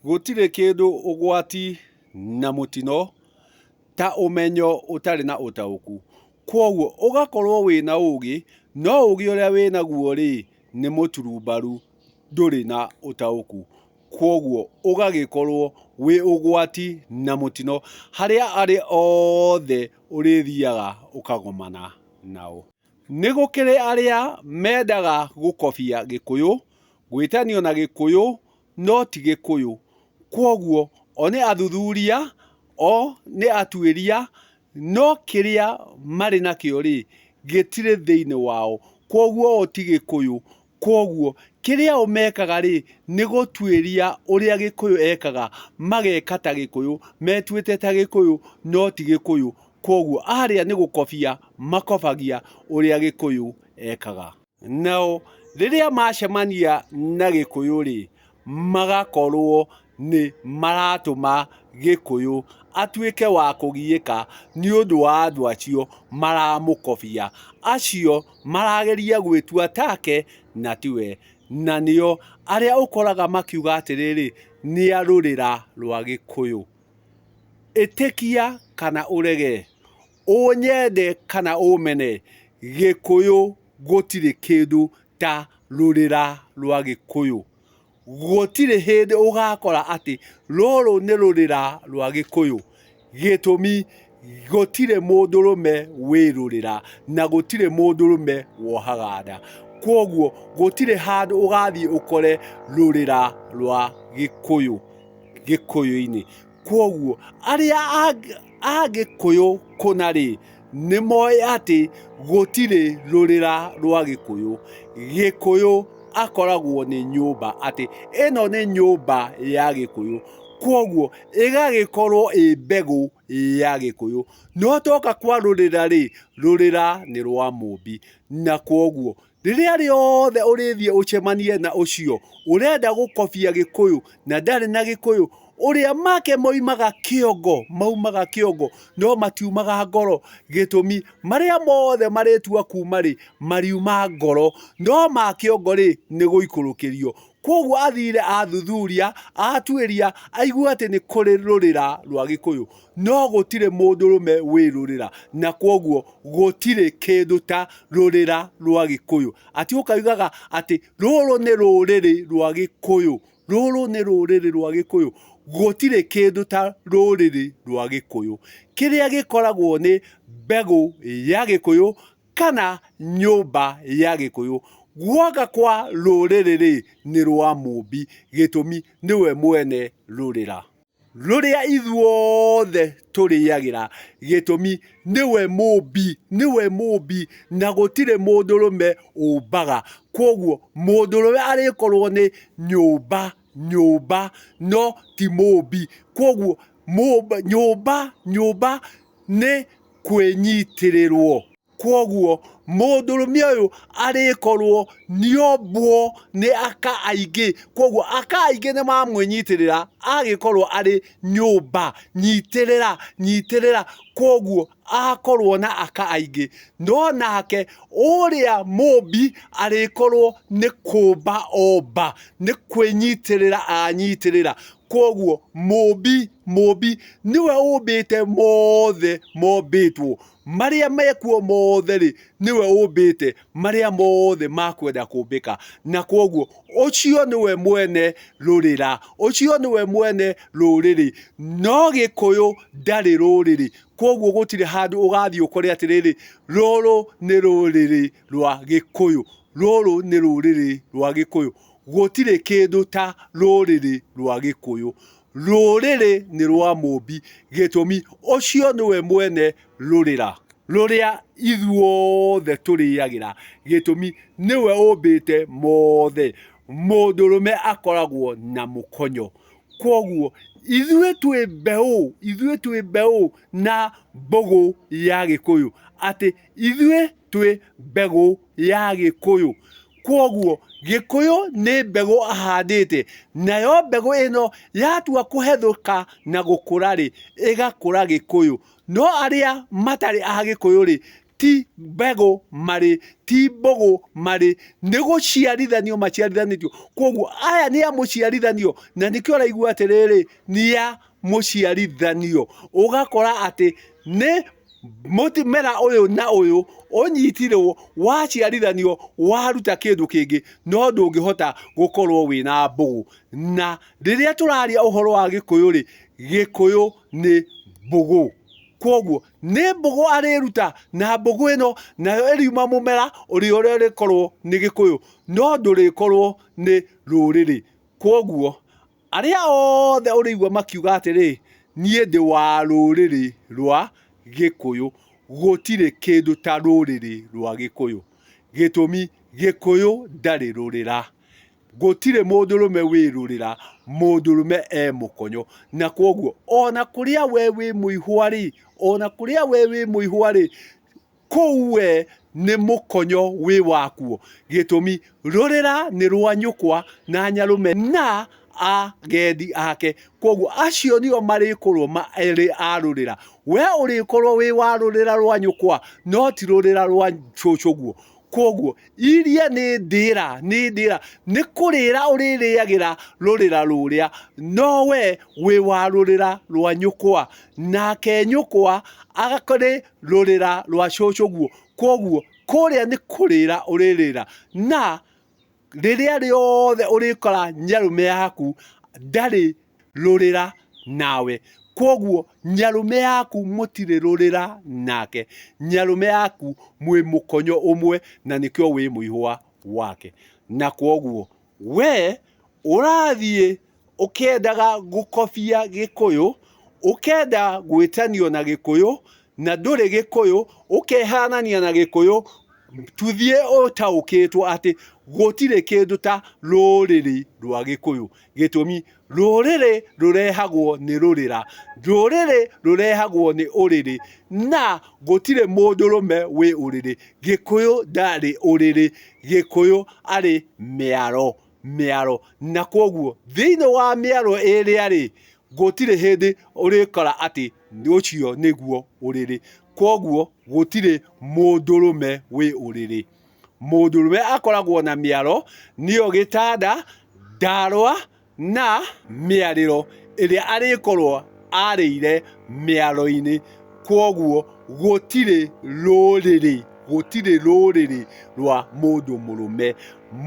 Gũtirĩ kĩndũ ũgwati na mũtino ta ũmenyo ũtarĩ na ũtaũku. Kwoguo ũgakorwo wĩna ũgĩ, no ũgĩ ũrĩa wĩnaguo rĩ, nĩ mũturumbaru ndũrĩ na ũtaũku. Kwoguo ũgagĩkorwo wĩ ũgwati na mũtino harĩa arĩa othe ũrĩthiaga ũkagomana nao. Nĩ gũkĩrĩ arĩa mendaga gũkobia Gĩkũyũ, gwĩtanio na Gĩkũyũ no ti Gĩkũyũ. Kwoguo o nĩ athuthuria, o nĩ atuĩria, no kĩrĩa marĩ nakĩo rĩ, gĩtirĩ thĩinĩ wao. Kwoguo o ti Gĩkũyũ. Kwoguo, kĩrĩa o mekaga-rĩ, nĩ gũtuĩria ũrĩa Gĩkũyũ ekaga, mageka ta Gĩkũyũ, metuĩte ta Gĩkũyũ, no ti Gĩkũyũ. Kwoguo, arĩa nĩ gũkobia makobagia ũrĩa Gĩkũyũ ekaga. Nao, rĩrĩa macemania na Gĩkũyũ-rĩ, magakorwo nĩ maratũma Gĩkũyũ atuĩke wa kũgiĩka nĩ ũndũ wa andũ acio maramũkobia. Acio marageria gwĩtua take na tiwe. Na nĩo arĩa ũkoraga makiuga atĩrĩrĩ, nĩ a rũrĩra rwa Gĩkũyũ. Ĩtĩkia kana ũrege, ũnyende kana ũmene, Gĩkũyũ gũtirĩ kĩndũ ta rũrĩra rwa Gĩkũyũ. Gũtirĩ hĩndĩ ũgakora atĩ rũrũ nĩ rũrĩra rwa gĩkũyũ gĩtũmi gũtirĩ mũndũrũme wĩ rũrĩra na gũtirĩ mũndũrũme wohaga nda. Kwoguo gũtirĩ handũ ũgathiĩ ũkore rũrĩra rwa gĩkũyũ gĩkũyũ-inĩ. Kwoguo arĩa a Gĩkũyũ kũna rĩ, nĩ moĩ atĩ gũtirĩ rũrĩra rwa Gĩkũyũ. Gĩkũyũ akoragwo nĩ nyũmba, atĩ ĩno nĩ nyũmba ya Gĩkũyũ. Kwoguo ĩgagĩkorwo ĩ mbegũ ya Gĩkũyũ. No tuoka kwarũrĩra rĩ, rũrĩra nĩ rwa Mũmbi. Na kwoguo Rĩrĩa rĩothe ũrĩthiĩ ũcemanie na ũcio ũrenda gũkobia gĩkũyũ na ndarĩ na gĩkũyũ, ũrĩa make moimaga kĩongo, maumaga kĩongo no matiumaga ngoro, gĩtũmi, marĩa mothe marĩtua kuuma rĩ, mariuma ngoro, no ma kĩongo rĩ, nĩ gũikũrũkĩrio. Kwoguo athire athuthuria, atuĩria, aigua atĩ nĩ kũrĩ rũrĩra rwa gĩkũyũ. No gũtirĩ mũndũrũme wĩ rũrĩra, na kwoguo gũtirĩ kĩndũ ta rũrĩra rwa Gĩkũyũ. Atĩ ũkaugaga atĩ rũrũ nĩ rũrĩrĩ rwa Gĩkũyũ, rũrũ nĩ rũrĩrĩ rwa Gĩkũyũ, gũtirĩ kĩndũ ta rũrĩrĩ rwa Gĩkũyũ. Kĩrĩa gĩkoragwo nĩ mbegũ ya Gĩkũyũ kana nyũmba ya Gĩkũyũ. Gwaka kwa rũrĩrĩ-rĩ, nĩ rwa Mũmbi, gĩtũmi nĩwe mwene rũrĩra. rũrĩa ithuothe tũrĩagĩra gĩtũmi nĩwe mũmbi nĩwe mũmbi na gũtirĩ mũndũrũme ũmbaga kwoguo mũndũrũme arĩkorwo nĩ nyũmba nyũmba no ti mũmbi kwoguo nyũmba nyũmba nĩ kwĩnyitĩrĩrwo. Kwoguo mũndũrũme ũyũ arĩkorwo nĩombwo nĩ aka aingĩ. Kwoguo aka aingĩ nĩmamwĩnyitĩrĩra agĩkorwo arĩ nyũmba nyitĩrĩra nyitĩrĩra. Kwoguo akorwo na aka aingĩ. No nake ũrĩa mũmbi arĩkorwo nĩ kũmba omba, nĩ kwĩnyitĩrĩra anyitĩrĩra. Kwoguo mũmbi mũmbi nĩwe ũmbĩte mothe mombĩtwo. Marĩa mekuo mothe-rĩ, nĩwe ũmbĩte, marĩa mothe makwenda kũmbĩka. Na kwoguo, ũcio nĩwe mwene rũrĩra, ũcio nĩwe mwene rũrĩrĩ. No Gĩkũyũ ndarĩ rũrĩrĩ, kwoguo gũtirĩ handũ ũgathiĩ ũkore atĩrĩrĩ, rũrũ nĩ rũrĩrĩ rwa Gĩkũyũ, rũrũ nĩ rũrĩrĩ rwa Gĩkũyũ. Gũtirĩ kĩndũ ta rũrĩrĩ rwa Gĩkũyũ. Rũrĩrĩ nĩ rwa Mũũmbi, gĩtũmi, ũcio nĩwe mwene rũrĩra rũrĩa ithuothe tũrĩagĩra, gĩtũmi, nĩwe ũmbĩte mothe. Mũndũrũme akoragwo na mũkonyo. Kwoguo, ithuĩ twĩ mbeũ, ithuĩ twĩ mbeũ na mbũgũ ya Gĩkũyũ, atĩ ithuĩ twĩ mbegũ ya Gĩkũyũ. Kwoguo Gĩkũyũ nĩ mbegũ ahandĩte, nayo mbegũ ĩno yatua kũhethũka na gũkũra rĩ, ĩgakũra Gĩkũyũ. No arĩa matarĩ a Gĩkũyũ rĩ, ti mbegũ marĩ, ti mbũgũ marĩ, nĩ gũciarithanio maciarithanĩtio. Kwoguo aya nĩ a mũciarithanio, na nĩkĩo ũraigua atĩrĩrĩ, nĩ a mũciarithanio ũgakora atĩ nĩ mũmera ũyũ na ũyũ ũnyitirwo waciarithanio waruta kĩndũ kĩngĩ no ndũngĩhota gũkorwo wĩna mbũgũ. Na rĩrĩa tũraria ũhoro wa gĩkũyũ rĩ, gĩkũyũ nĩ mbũgũ. Kwoguo nĩ mbũgũ arĩruta na mbũgũ ĩno nayo ĩriuma mũmera ũrĩa ũrĩkorwo nĩ gĩkũyũ no ndũrĩkorwo nĩ rũrĩrĩ. Kwoguo Arĩa othe ũrĩigua makiuga atĩrĩ, 'Niĩ ndĩ wa rũrĩrĩ rwa Gĩkũyũ, gũtirĩ kĩndũ ta rũrĩrĩ rwa Gĩkũyũ, gĩtũmi Gĩkũyũ ndarĩ rũrĩra, gũtirĩ mũndũrũme wĩ rũrĩra, mũndũrũme e mũkonyo, na kwoguo o na kũrĩa we wĩ mũihwa-rĩ, o na kũrĩa we wĩ mũihwa-rĩ, Kũu we nĩ mũkonyo wĩ wakuo, gĩtũmi, rũrĩra nĩ rwa nyũkwa na nyarũme na agendi ake, kwoguo acio nĩo marĩkorwo marĩ a rũrĩra. We ũrĩkorwo wĩ wa rũrĩra rwa nyũkwa no ti rũrĩra rwa cũcũguo. Kwoguo iria nĩ ndĩra, nĩ ndĩra, nĩ kũrĩra ũrĩrĩagĩra rũrĩra rũrĩa, no we wĩ wa rũrĩra rwa nyũkwa, nake nyũkwa arĩ rũrĩra rwa cũcũ guo, koguo kũrĩa nĩ kũrĩra ũrĩrĩra, na rĩrĩa rĩothe ũrĩkora nyarũme yaku ndarĩ rũrĩra nawe, koguo nyarũme yaku mũtirĩ rũrĩra nake, nyarũme yaku mwĩ mũkonyo ũmwe na nĩkĩo wĩ mũihũwa wake, na koguo We ũrathiĩ ũkĩendaga gũkobia gĩkũyũ, ũkenda gwĩtanio na gĩkũyũ na ndũrĩ gĩkũyũ, ũkehanania na gĩkũyũ, tũthiĩ ũtaũkĩtwo atĩ gũtirĩ kĩndũ ta rũrĩrĩ rwa gĩkũyũ gĩtũmi Rũrĩrĩ rũrehagwo nĩ rũrĩra, rũrĩrĩ rũrehagwo nĩ ũrĩrĩ, na gũtirĩ mũndũrũme wĩ ũrĩrĩ. Gĩkũyũ ndarĩ ũrĩrĩ, Gĩkũyũ arĩ mĩaro, mĩaro. Na kwoguo thĩinĩ wa mĩaro ĩrĩa rĩ, gũtirĩ hĩndĩ ũrĩkora atĩ ũcio nĩguo ũrĩrĩ. Kwoguo gũtirĩ mũndũrũme wĩ ũrĩrĩ. Mũndũrũme akoragwo na mĩaro, nĩyo gĩtanda, ndaarwa na mĩarĩro ĩrĩa arĩkorwo aarĩire mĩaroinĩ. Kwoguo gũtirĩ rũrĩrĩ, gũtirĩ rũrĩrĩ rwa mũndũ mũrũme.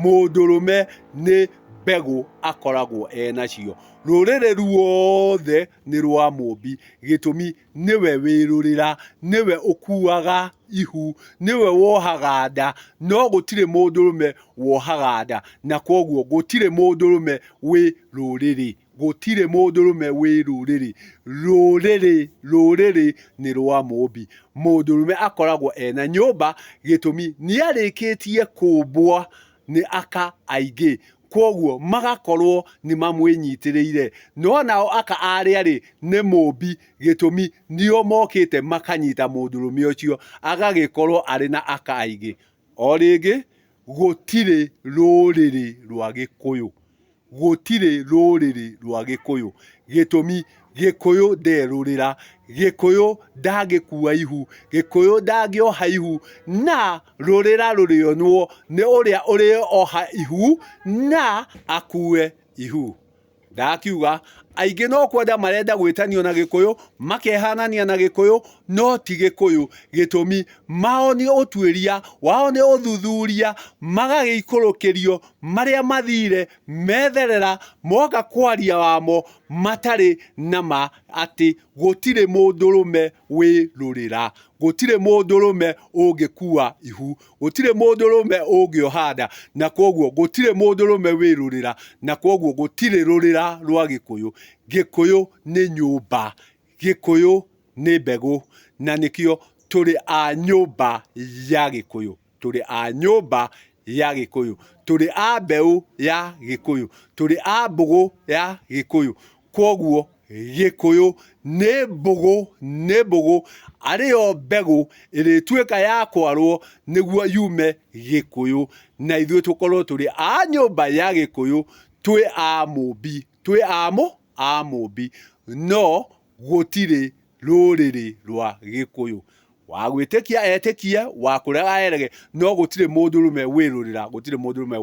Mũndũrũme nĩ mbegũ akoragwo enacio. Rũrĩrĩ ruothe nĩ rwa mũũmbi gĩtũmi Nĩwe wĩrũrĩra, nĩwe ũkuuaga ihu, nĩwe wohaga nda, no gũtirĩ mũndũrũme wohaga nda, na kwoguo gũtirĩ mũndũrũme wĩ rũrĩrĩ. Gũtirĩ mũndũrũme wĩ rũrĩrĩ. Rũrĩrĩ, rũrĩrĩ nĩ rwa Mũũmbi. Mũndũrũme akoragwo e na nyũmba, gĩtũmi nĩarĩkĩtie kũmbwo nĩ aka aingĩ. kwoguo magakorwo nĩ mamwĩnyitĩrĩire. No nao aka arĩa rĩ, nĩ mũũmbi, gĩtũmi nĩo mokĩte makanyita mũndũrũme ũcio, agagĩkorwo arĩ na aka aingĩ. O rĩngĩ, gũtirĩ rũrĩrĩ rwa Gĩkũyũ, gũtirĩ rũrĩrĩ rwa Gĩkũyũ, gĩtũmi, Gĩkũyũ nderũrĩra, Gĩkũyũ ndangĩkua ihu, Gĩkũyũ ndangĩoha ihu, na rũrĩra rũrĩonwo nĩ ũrĩa ũrĩoha ihu na akue ihu. Ndakiuga aingĩ no kwenda marenda gwĩtanio na Gĩkũyũ, makehanania na Gĩkũyũ no ti Gĩkũyũ. Gĩtũmi mao nĩ ũtuĩria, wao nĩ ũthuthuria, magagĩikũrũkĩrio marĩa mathire metherera moka kwaria wamo matarĩ na ma atĩ gũtirĩ mũndũrũme wĩrũrĩra, gũtirĩ mũndũrũme ũngĩkua ihu, gũtirĩ mũndũrũme ũngĩoha nda, na kwoguo gũtirĩ mũndũrũme wĩrũrĩra, na kwoguo gũtirĩ rũrĩra rwa Gĩkũyũ. Gĩkũyũ nĩ nyũmba, Gĩkũyũ nĩ mbegũ, na nĩkĩo tũrĩ a nyũmba ya Gĩkũyũ. Tũrĩ a nyũmba ya Gĩkũyũ. Tũrĩ a mbeũ ya Gĩkũyũ. Tũrĩ a mbũgũ ya Gĩkũyũ. Kwoguo Gĩkũyũ nĩ mbũgũ, nĩ mbũgũ, arĩ yo mbegũ ĩrĩtuĩka ya kwarwo nĩguo yume Gĩkũyũ, na ithuĩ tũkorwo tũrĩ a nyũmba ya Gĩkũyũ, twĩ a Mũmbi, twĩ a Mũmbi. No Gũtirĩ rũrĩrĩ rwa Gĩkũyũ. Wa gwĩtĩkia etĩkie, wa kũrega arege, no gũtirĩ mũndũrũme wĩrũrĩra, gũtirĩ mũndũrũme.